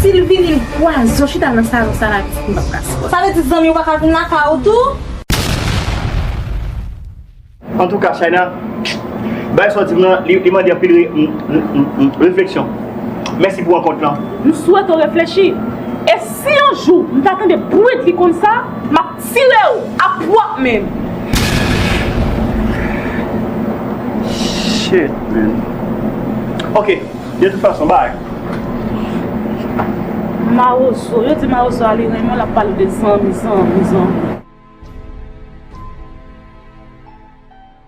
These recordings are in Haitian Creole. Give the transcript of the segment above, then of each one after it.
Sil vini l pwazon chita nan salon sa la visye pap ka sot. Sa vle di zanmiw paka vin lakay ou tou? Antouka China bay sòti m nan li mande anpil refleksyon. Mèsi pou rankont lan. M swete w reflechi. E si yon jou m ta tande bwit li konsa, m ap. Filew ap pwop menm. Shit man ok de tout fason bye. Marozo yo di marozo a li renmen lap pale de zanmi zanmi zanmi.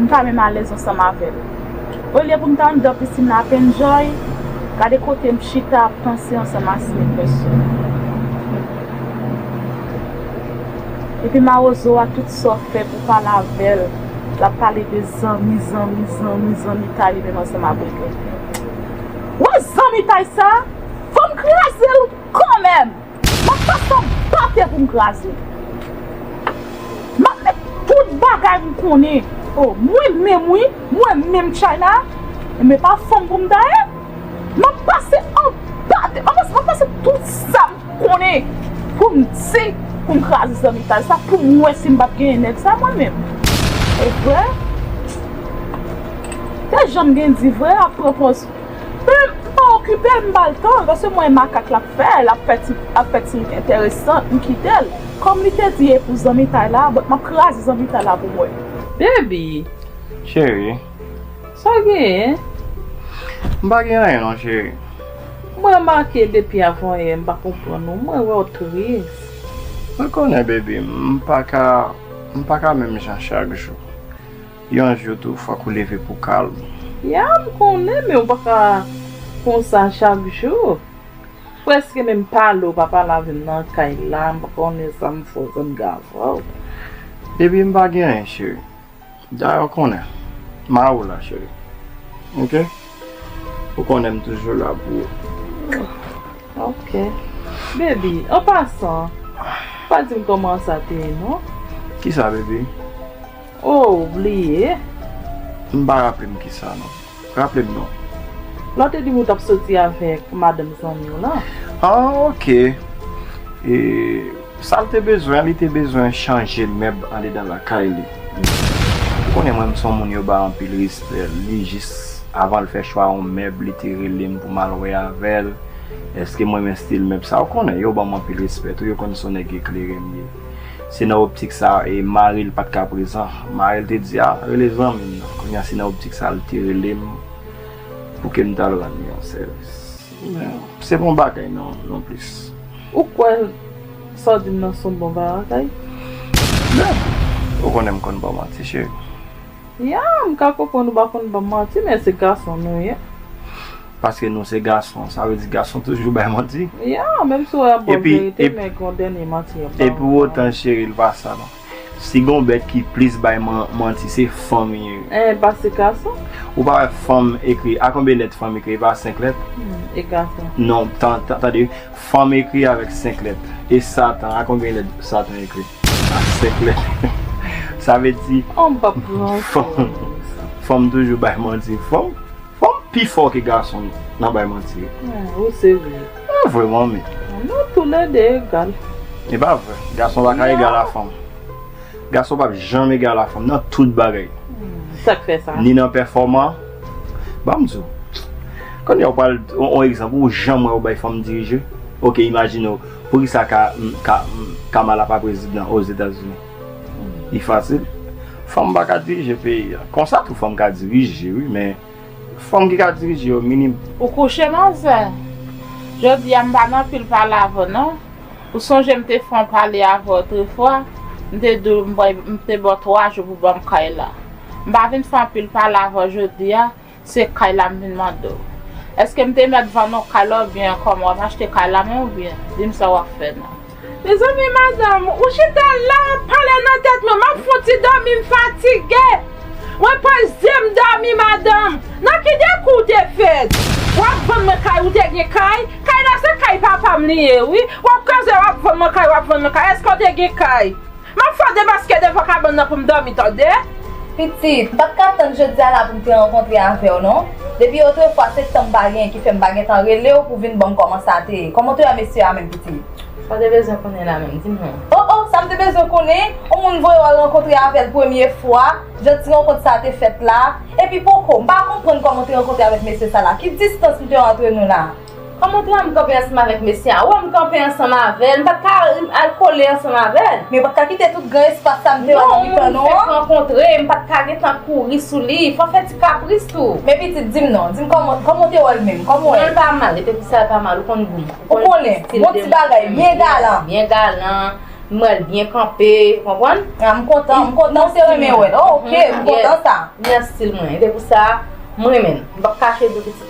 m pa menm alèz ansanm avè l. Olye pou m ta anndan pisin nan ap enjoy, gade kote m chita ap panse ansanm a slippers yo. Epi mawozo a tout sa w fè pou pale avè l, l ap pale de zanmi, zanmi, zanmi, zanmitay li menm ansanm a Britney. Wè zanmitay sa a, fò m kraze l kanmenm! Map pase yon pate pou m kraze. Map met tout bagay m konnen. O, mwen menm wi, mwen menm China. Enben pa fanm pou m ta ye. Map pase yon pate, map pase tout sa m konnen pou m di, pou m kraze zanmitay sa, pou m wè si m pap genyen nèg sa mwen menm. Evre? Te janm gen di vre ap pran pòz. M pa okipel m bal tan paske m wè makak la ap fè lap fè ti ap fè ti entèresan m kitel kòm li te di epou zanmitay la but map kraze zanmitay la pou mwen. Baby. Chérie. Sa w genyen? M pa gen anyen non chérie. M remake depi avanyè m pa konprann ou mwen wè w tris. Mwen konnen baby m paka m paka menm jan chak jou. Yon jou tou fòk ou leve pou kal ou. Ya m konnen men ou pa ka konsa chak jou. Preske menm pale ou pa pale avè m nan kay la m pa konnen sa m fè pou m ka avè w. Epi m pa gen anyen cheri. Dayè ou konnen m a ou la cheri ok. Ou konnen m toujou la pou ou. Ok baby an pasan pa di m kòman sa te ye non. Kisa baby? Oh ou bliye? M pa raple m kisa non. Raple m non. Lè w te di m ou t ap soti avèk madanm zanmi w lan. Ah ok. E sa l te bezwen an? Li te bezwen chanje mèb andedan lakay li. Ou konnen mwen m s on moun yo bay anpil respè. Li jis avan l fè chwa yon mèb li te rele m pou m al wè avè l èske m renmen stil mèb sa. Ou konnen yo ban m anpil respè tou. Yo konn s on nèg eklere m ye. Se nan optik sa e mari l pa t ka prezan. Mari l te di, A, rele zanmi m nan. Kounye a, se nan optik sa l te rele m pou ke m t al rann li yon sèvis. Men, se pa yon bagay nonplis. Ou kwè sa w di m nan se yon bon bagay? Ben, ou konnen m konn ba w manti, cheri. Ya, m ka konprann ou pa konn ban m manti, men se gason nou ye. Paske nou se gason sa vle di gason toujou bay manti? Ya, menm si w wè yon bon verite men gen yon dènye manti yap ba w. E pou otan cheri l pa sa non. Si gen yon bèt ki plis bay manti se fanm li ye. E pa se gason? Ou pa wè fanm ekri a konbyen lèt fanm ekri e pa 5 lèt? E gason? Non, tande, fanm ekri avèk 5 lèt. E satan a konbyen lèt satan ekri? A 5 lèt. Sa vle di fanm toujou bay manti. Bon m pi fò ke gason nan bay manti. Ou serye. Ou vre manmi. Nou tou le 2 egal. E pa vre. Gason pa ka egal a fanm. Gason pap janm egal a fanm nan tout bagay. Sak fè sa? Ni nan pèfòman. Banm di w. Kounye a ou pral on egzanp ou janm wè yo bay fanm dirije? Ok imajine w. Poukisa Kamala pa prezidan Ozetazini? Li fasil. Fanm pa ka dirije peyi a. Konsa tou fanm ka dirije wi men fanm ki ka dirije yo minim. Ou kouche nan zen? Jodi a m pa nan pil pale avè w non. Ou sonje m te fè yon pale avè w otrefwa, m te di w m te ba w 3 jou pou w ban m kay la. M pa vin fè anpil pale avè w jodi a, Se kay la m vin mande w. Eske m te mèt vann w kay la oubyen kòman w ap achte kay la men oubyen di m sa w ap fè nan. Mezanmi madanm, ou chita la w ap pale nan tèt mwen, m ap fon ti dòmi m fatige. Mwen pòch zye m dòmi madanm. Nan ki dekou w te fèt? W ap vann mwen kay ou te gen kay? Kay la se kay papa m li ye wi. W ap kaze w ap vann mwen kay w ap vann mwen kay eske w te gen kay? Map fè debaske devan kabann nan poum dòmi tande. Pitit, mpat ka tann jodia la poum te rankontre avèw non. Depi otrefwa se tanm pa gen ki fèm pa gentan relew pou vin banm kòman sa te ye. Kòman w te wè mesye a menm pitit? Sa w te bezwen konnen la menm, dim non. Oh oh, sam te bezwen konnen? On moun voye w al rankontre avèl premye fwa, jan ti rankont sa te fèt la. Epi poko, mpa konprann kòman w te rankontre avèk mesye sa la. Ki distans nou te antre nou la? An mwen pran m kanpe ansanm avèk mesye a. Wè m kanpe ansanm avè l. M pa t ka rii al kole ansanm avè l. Men w pa t ka kite tout gran espas sa m te wè nan mitan nou an. Non, moun fèk rankontre. M pa t ka gen tan kouri sou li. Fò w fè ti kapris tou. Men pitit, di m non. Di m kòman, kòman w te wè l menm? Kòman w wè l? Non l pa mal. Li te di sa l pa mal. Ou konn gou m. Ou konnen. Bon ti bagay. Byen galan. Byen galan. M wè l byen kanpe. Ou konprann? A m kontan. M kontan ou te renmen wè l. Ok. M kontan sa. Li nan stil mwen. E se pou sa m renmen l. M p ap kache di w pitit.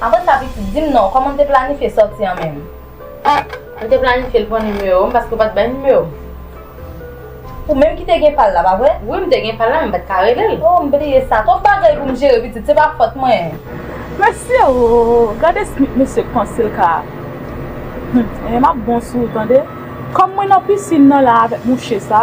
Aprann sa pitit, di m non, kòman w te planifye sòti an menm? Ak, M te planifye l pran nimewo m paske w pa t bay nimewo m. Ou menm ki te gen pa l la, pa vre? Wi, m te gen pa l la men m pa t ka rele l. O, m bliye sa. Twòp bagay pou m jere pitit, se pa fòt mwen. Mesye o, gade Smith mesye k panse l ka. Hum, e m ap bon sou ou tande. Kòm mwen nan pisin nan la avèk mouche sa.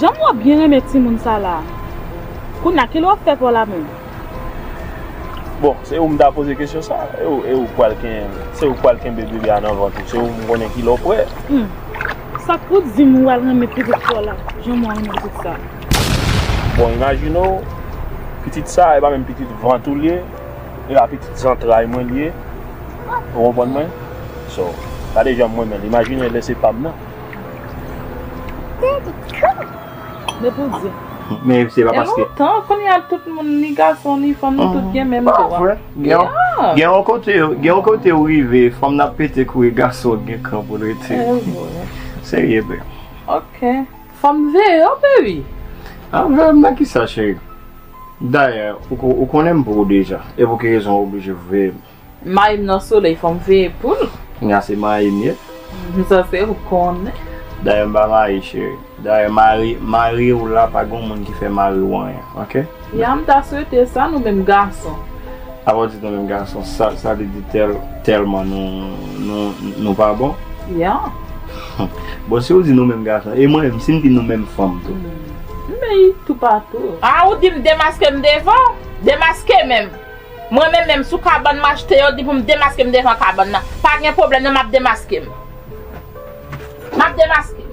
Janm wap byen renmen timoun sa la. Kounya kile wap fè paw la menm. Bon se ou m ta poze kesyon sa e ou pwal kenyen l se ou pwal kenbe bebe a nan vant ou se ou m konnen kile w pwè. Humm sak pou w dim wal renmen pitit paw la janm wal renmen pitit sa. Bon imajine w pitit sa e pa menm pitit vant ou l ye. E a pitit zantray mwen li ye ou konprann mwen so gade janm renmenl imajine lè se pam nan. Daddy cool. Men pou di. Men se pa paske. Gen lontan kounya tout moun ni gason ni fanm nou tout gen menm dwa. Pavre? Gen yon kote gen yon kote ou rive fanm nan pete kouri gason gen kran poul rete. Serye vre. Ok. Fòm veye yo pe ui. Ap veyem nan kisa cheri. Dayè ou konnenm pou ou deja e pou ki rezon ou oblije veyem. Mayim nan soley fòm veye poul. Nga se mayim ye. Sa se ou konnen. Dayè mpa mayi cheri. Dayè mariw la pa gon moun ki fè mariw anyen ok. Ya m ta swete sa nou menm gason. Apa w di nou menm gason sa vle di tèlman nou pa bon? Ya. Bon si w di nou menm gason e mwen menm si m di nou menm fanm tou? M beny toupatou. A ou di m demaske m devan w? Demaske menm? Mwen menm menm sou kabann m achte yo di pou m demaske m devan kabann nan. Pa gen pwoblèm nan m ap demaske m. M ap demaske m.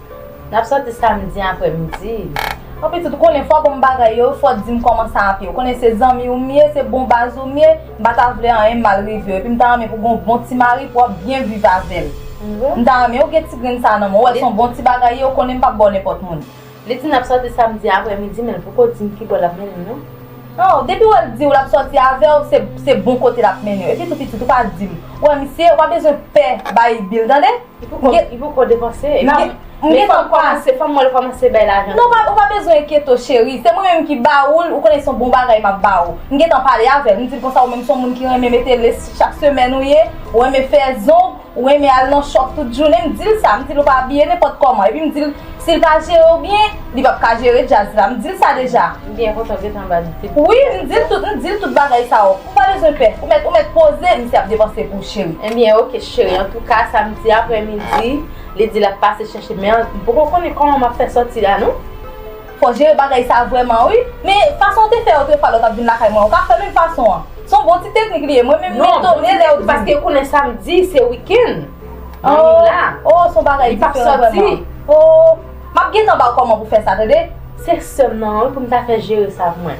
N ap soti samdi apre midi. Bon pitit, ou konnen fwa bon bagay yo, fò di m kòman sa ap ye. Ou konnen se zanmi ou m ye, se bon baz ou m ye, m pa ta vle anyen mal rive w. Epi m ta renmen pou w gen yon bon ti mari pou w ap byen viv avè l. M ta renmen ou gen ti grenn sa nan men w. Ou wè se yon bon ti bagay ye, ou konnen m pap ba w nenpòt moun. Li di n ap soti samdi apre midi men l poko di m ki bò l ap mennen m non. An, depi wè l di w l ap soti avè w, se bon kote l ap mennen w. Epitou pitit, ou pa di m. Ou wè misye, ou pa bezwen pè Bayi Bil tande. Li poko depanse. Li fèk kòmanse, fòm wèl kòmanse bay lajan. Non ou pa bezwen enkyete cheri, se mwen menm ki ba oul, ou konnen son bon bagay map ba ou. M gentan pale avèl, m dil konsa ou menm son moun ki renmen mete lace chak semèn ou ye, ou renmen fè zong, ou renmen al nan shop tout jounen, m dil sa, m dil ou pa abiye nenpòt kòman. Epi m dil sil pa jere ou byen, li pap ka jere djaz la. M dil sa deja. M byen kontan ou gentan bal tip. Wi, m dil tout, m dil tout bagay sa yo. Ou pa bezwen pè, ou mèt ou mèt poze misye ap depanse pou ou cheri. Ebyen ok cheri antouka samdi aprè midi li di lap pase chèche men m poko konnen kòman map fè sòti la non. Fò jere bagay sa vrèman wi. Men fason ou te fè otrefwa lè w tap vin lakay mwen ou ka fè menm fason an. Son bon ti teknik li ye mwen menm m etone lè ou di. Paske yo konnen samdi se weekend Manmi la. Oh son bagay diferan vrèman. Oh map gentan ba w kòman pou fè sa tande. Se sèm nan wi pou m ta fè jere sa pou mwen.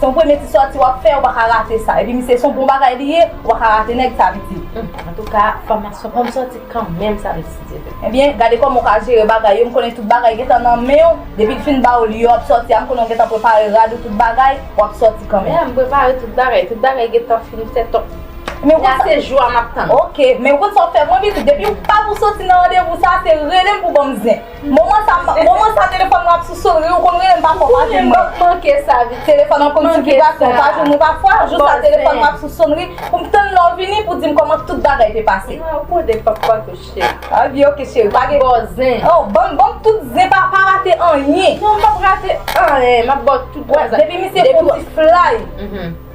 Son premye ti sòti wap fè ou paka rate sa epi misye son bon bagay li ye ou paka rate nèg sa pitit. Humm antouka fòmasyon poum sòti kanmenm sa mesye Dye beni. Ebyen gade kòman ou ka jere bagay yo m konnen tout bagay gentan nan menw depil fin baw li yo wap sòti a m konnen ou gentan prepare rad ou tout bagay wap sòti kanmenm. Yeah m prepare tout bagay tout bagay gentan fin fèt ok la se jou a map tann. Ok men ou konn sa wap fè pou mwen pitit depiw pa pou sòti nan randevou sa se relem pou banm zen. Moman sa moman sa telefòn mwen ap sou sonri ou konn rele m pafwa ou pa jwenn mwen. Mwen manke sa wi telefòn an konn di vibratyon ou pa jwenn mwen pafwa jou sa telefòn mwen ap sou sonri pou m tann lè w vini pou di m kòman tout bagay te pase. Mwen ap kode pafwa tou cheri. Ah wi ok cheri pa gen bòzen. Oh banm banm tout zen pa pa rate anyen. Non m pap rate anyen map ba w tout bon zen. Depi misye fon ti flay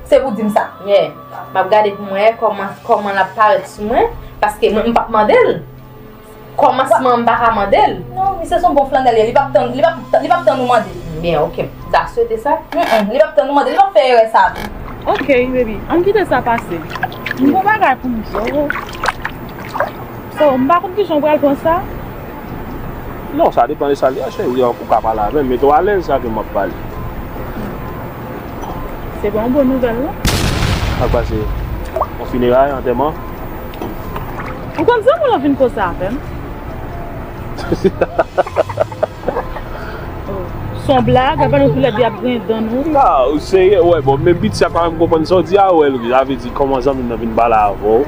se pou di m sa. Yeah map gade pou m wè kòman kòman lap parèt sou mwen paske mwen m pap mande l. Kòmansman m pa ka mande l. Non, misye s on bon flannèl ye, li pap tann, li pap, li pap tann ou mande l. Byen, ok. M ta swete sa. Humm, li pap tann ou mande l, li pap fè erè sa a tou. Ok, baby, ann kite sa pase. M gon bagay pou m di w. Oh, m pa konn kijan w pral pran sa. Non, sa depan de sa l ye a, cheri, ou ka pale avè m. Mete w alèz sa ke m ap pale. Se pa yon bon nouvèl non. Sa k pase? On fineray, antèman? Ou konn zanmi w lan vin koze avè m. Son blag, apa nou tou lè 2 ap griyen dan nou. Nan, ou serye, wè bon men Bitsy a pa menm konprann sa w di a, wè sa vle di kòman zanmi m nan vin pale avè w?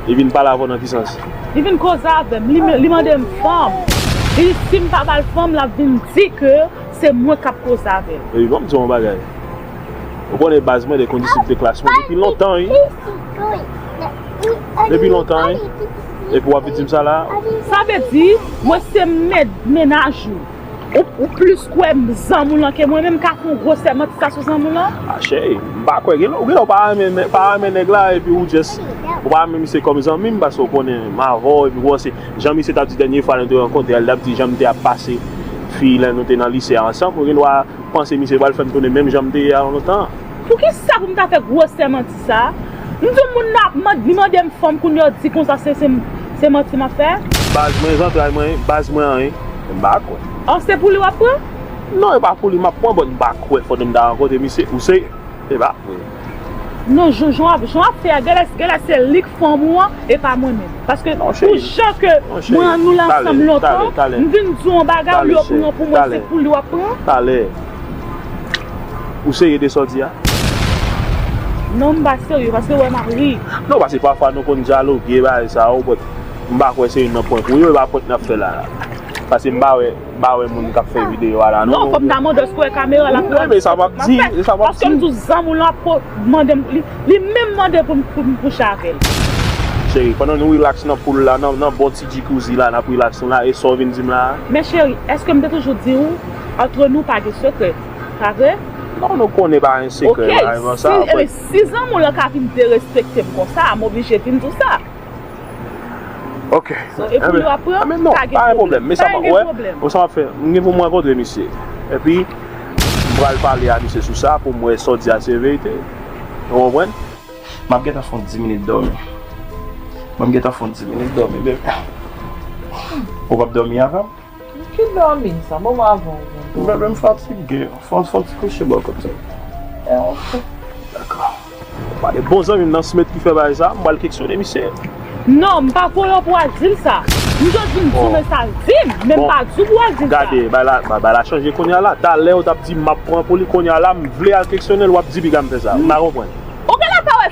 Li vin pale avè w nan ki sans? Li vin koze avè m, li mande m fanm. Li di si m pa ba l fanm l ap vin di ke se mwen k ap koze avè l. Epi ban m di w yon bagay. Ou konnen baz mwen de kondisip de klas mwen depi lontan wi. Depi lontan wi. Epi wap vin di m sa la. Sa vle di mwen se mèt menaj ou. Ou plis kwè zanmi w lan ke mwen menm ka fon gwosè manti sa sou zanmi w lan? A cheri, m pa kwè. Gen lè w pa renmen nèg la epi ou jès ou pa renmen misye kòm zanmi m paske ou konnen m avè w epi bon se jan misye tap di dènye fwa nou te rankontre a li tap di jan m te ap pase fi lè nou te nan lise a ansanm ou gen dwa M panse misye pral fèm tounen menm janm te ye avan lontan an. Poukisa pou m ta fè gwosè manti sa? M di w moun nan ap mand li mande m fanm kounye w di konsa se se manti map fè? Baz mwen zantray mwen baz mwen an wi m pa kwè. An se pou li wap pran? Non e pa pou li map pran but m pa kwè fò de'm ta rankontre misye ou serye e pa. Non jou jan wap jan wap fè a genlè genlè se lik fanm ou an e pa mwen menm paske pou jan ke mwen an nou la ansanm lontan m vin di w yon bagay ou li ou pran pou mwen se pou li wap pran talè ou serye de sa w di a non m pa serye paske wè map ri non paske pafwa nou konn dyaloge bagay sa yo bòt m pa kwè se youn nan pwenk ou yo e pa pwenk nap fè la paske m pa wè. pa wè moun kap fè video a la non. Non fòm ta mande èske ou wè kamera la pou wè tout sa map fè. Paske m tou zanm ou lan pou mande m li menm mande pou m kouche avèl. Cheri pandan nou relax nan pool la nan bon ti djikouzi la nap relax nou la e sa w vin dim la a? Men cheri èske m te toujou di ou antre nou pa gen sekrè pa vre? Non nou konnen pa gen sekrè la evan sa. Ok si zanm ou lan ka vin derespekte m konsa m oblije vin di w sa. Ok. So e pou yo ap pran, Mwen non, pa gen pa gen pwoblèm. pwoblèm. Men sa Pa map gen wè, pwoblèm. mwen sa map fè, mwen gen pou mwen rankontre misye. Epi, m pral pale a misye sou sa pou m wè sa w di a se verite. Ou konprann? Map gentan fon 10 minit dòmi. Mwen m gentan fon 10 minit dòmi, bebe. Ou pap dòmi avè m? Ki dòmi sa? Bon mwen avèw gen dòmi. Bebe m fatige. Fon fon ti kouche bò kot ou. E ok. Dako. Pa de bon zanmi m nan Smith ki fè bagay sa, m pral keksyone misye. Non, m pa voye w pou al di l sa. M jis di m sou men sa l di m, men m pa di w pou w al di l sa. Gade, bagay la chanje kounya la. Talè ou t ap di m m ap pran pou li, kounya la m vle al keksyone l w ap di piga m fè sa. M pa konprann. Ok la sa wè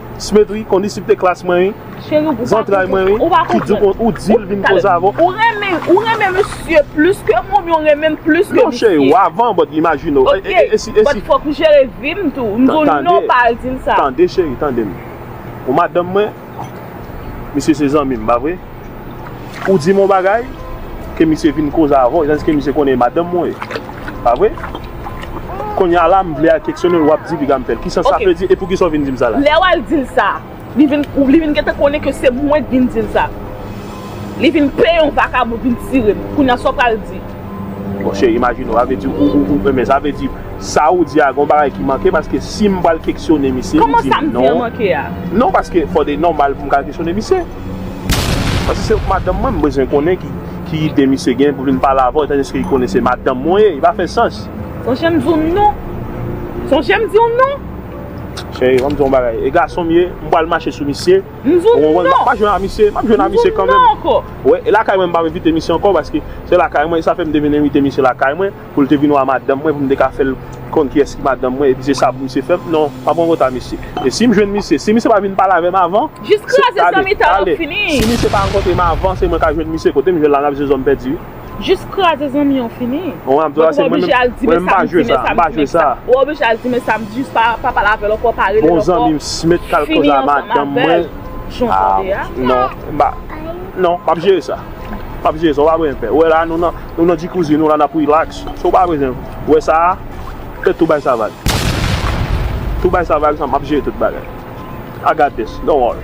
Smetri kondisip te klas mwen wi. Zantray mwen wi. Ki di ou ou dil vin koz avè w. Ou renmen ou renmen misye plis ke mwen oubyen ou renmen m plis ke misye. Non cheri ou avan but imajine w. Ok but fòk m jere vi m tou. M di w non pa al di l sa. Tande cheri tande m. Ou madanm mwen misye se zanmi m pa vre. Ou di m yon bagay, ke misye vin koze avè w, tandiske misye konnen e madanm mwen ye. Pa vre? Kounye a la, m vle al keksyone l, w ap di piga m fè l. Ki sans sa vle di, e poukisa w vin di m sa la? Lè w al di l sa, li vin, ou li vin gentan konnen ke se mwen ki vin di l sa. Li vin peye yon vakabon vin tire m. Kounye a, sa w pral di? Bon, cheri, imajine w, sa vle di ou, ou, ou renmen l. Sa vle di, sa ou di a, gen yon bagay ki manke, paske si m pral keksyone misye, li di m non. Kòman sa m di an manke a? Non, paske, fò de nòmal pou m ka al keksyone misye. Paske se madanm mwen m bezwen konnen ki ide misye gen pou vin pale avè w etan donne li konnen se madanm mwen ye, li pa fè sans. Sonje m di w non. Sonje m di w non. Cheri banm di w yon bagay e gason m ye m pral mache sou misye ou konprann m pa jwe ak misye map jwe ak misye kanmenm. Wè e lakay mwen m pap envite misye ankò paske se lakay mwen e sa fè m te vin envite misye lakay mwen. Pou l te vin wa madanm mwen pou m te ka fè l konn kiyès ki madanm mwen epi se sa pou misye fè m non pa pran konta misye e si m jwenn misye si misye pa vin pale avè m avan se tande tande si misye pa rankontre m avan se mwen ka jwenn misye kote m jwenn la n ap jwe zòm pèdi wi. Jis kraze zanmi an fini bon m ap oblije al di men sa m di men sa m di men sa ou oblije al di men sa m di jis pa pale avè l ankò pa rele l ankò fini ansanm avè l jan w tande a non m pa non m ap jere sa m ap jere sa ou pa pran pè ou wè la nou nan. Nou nan jikuzi nou la nap relax si w pa bezwen wè sa fè tou bay sa vag tou bay sa vag map jere tout bagay I got this don't worry.